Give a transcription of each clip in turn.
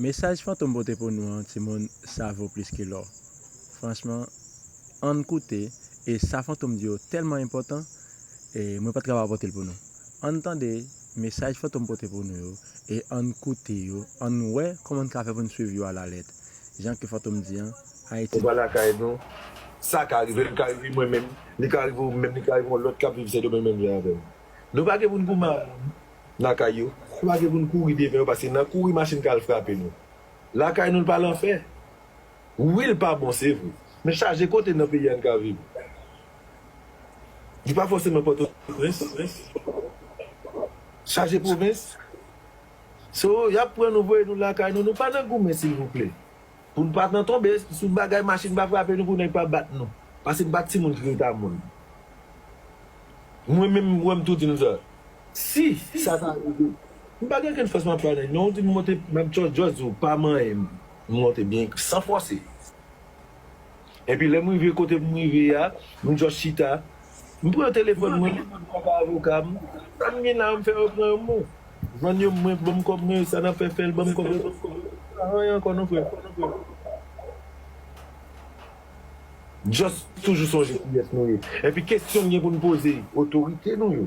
Mesaj Fantom pote pou nou an timoun sa vo plis ke lò franchman ann koute e sa Fantom di yo tèlman enpòtan e mwen pat ka pa potel pou nou ann tande mesaj Fantom pote pou nou yo e ann koute yo ann wè kòman n ka fè pou n swiv yo a la lèt jan ke Fantom di an Ayiti Anba lakay nou sa ka rive li ka rive mwen menm li ka rive ou menm li ka rive yon lòt kap viv Sendomeng menm jan avèm nou pa gen pou n goumen a moun. nan kay yo. Kwaze pou n kouri devan yo paske nan kouri machin ka al frape nou. Lakay nou l pa lanfè. Wi l pa bon se vre. Men chaje kote nan peyi a n ka viv. Li pa fòseman Pòtoprens. Chaje pwovens. So y ap pran nou voye nou lakay nou. Nou pa nan goumen silvouplè. Pou n pa nan tonbe sou bagay machin pa frape nou pou nèg pa bat nou pase n pa timoun ki reta moun mwen menm wè m tou di nou sa si sa ta rive m pa gen okenn fòs m ap pale non ou di m monte m ap jòs di w pa manyen m monte byen san fòse. Epi lè m rive kote m rive a, m just chita, m pran telefòn mwen, m pran pa avoka m, sa m gen la yo m fè yo pran yo m bon. Vann yo m mwen, ban m kòb mwen, sa n ap fè fè l, ban m kòb yo, pa anyen ankò non frè. Just toujou sonje kiyès nou ye. Epi kesyon m gen pou n poze otorite nou yo,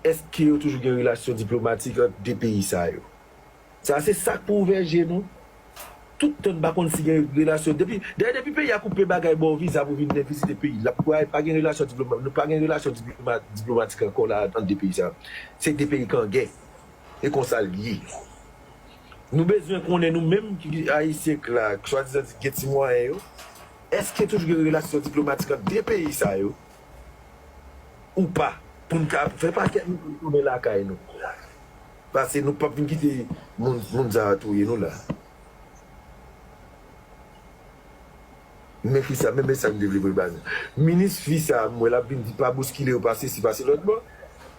èske yo toujou gen relasyon diplomatik ant 2 peyi sa yo? Sa se sak pou ouvè je nou. Tout tan n pa konn si gen relasyon depi dayè depi peyi a koupe bagay baw viza pou vin vizite peyi lap kwè pa gen relasyon diploma nou pa gen relasyon diplomatik ankò la ant 2 peyi sa se 2 peyi k an gè e konsa l ye nou bezwen konnen nou menm ki ayisyen k la k swadizan di k gen ti mwayen yo èske toujou gen relasyon diplomatik ant 2 peyi sa yo ou pa pou n ka fè pakèt nou retounen lakay nou. Pase nou pap vin kite moun sa a touye nou la. Men kisa men mesaj m te vle voye ba nou. Minis fi sa a m wè l ap vin di pa bouskile yo pase si pase lòtbò.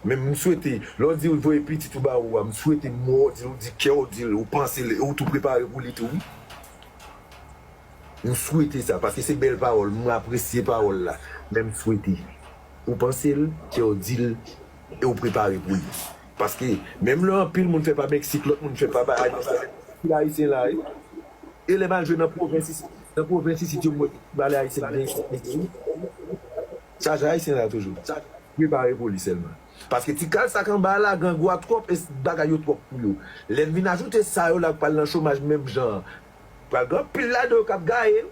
Men m swete lè w di w voye pitit ou ba ou a m swete mo w di l ou di kè w di l ou panse l e ou tou prepare pou li tou wi. M swete sa paske se bèl pawòl m apresye pawòl la men m swete ou panse l kè w di l e w prepare pou li. Paske menm lè anpil moun fè pa Mexique lòt moun fè pa Baha'i nan sèl pil ayisyen la wi e lè mal jwe nan pwovens isit nan pwovens isit yo mwen ti valè ayisyen ki gen isit mesye wi chaje ayisyen la toujou prepare pou li sèlman paske ti kal sak anba a la grangou a twòp e bagay yo twòp pou yo lè n vin ajoute sa yo la k pral nan chomaj menm jan an pral gen anpil ladan yo k ap gaye wi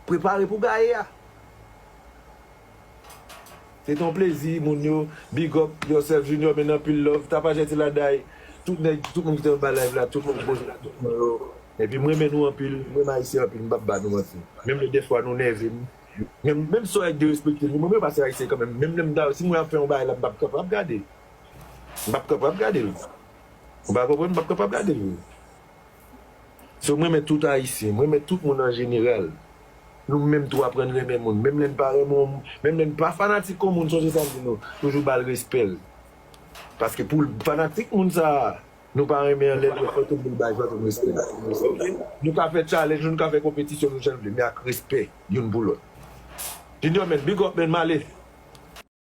prepare pou gaye a. Se te yon plezi moun yo big up yourself junior men nan pil love tapajè ti laday tout nèg tout moun ki te anba live la tout moun ki poze kesyon yo epi m renmen nou anpil m renmen ayisyen anpil m pap ba nou manti menm lè dèfwa nou nève m menm menm si ayisyen derespekte nou m renmen pase ayisyen kanmenm menm lè m ta si mwen ap fè yon bagay la m pap kapab gade m pap kapab gade l ou pa konprann m pap kapab gade l vre. So m renmen tout ayisyen, m renmen tout moun an jeneral. Nou menm tou aprann renmen moun, menm lè n pa renmen yon moun, menm lè n pa fanatik yon moun sonje sa m di nou, toujou ba l respè l. Paske pou l fanatik moun sa a nou pa renmen an lè l wè fòt ou pou l ba l fòt ou respè l. Ok? Nou ka fè challenge, nou ka fè konpetisyon nou jan n vle men ak respè youn pou lòt. Junior man, big up man, m ale.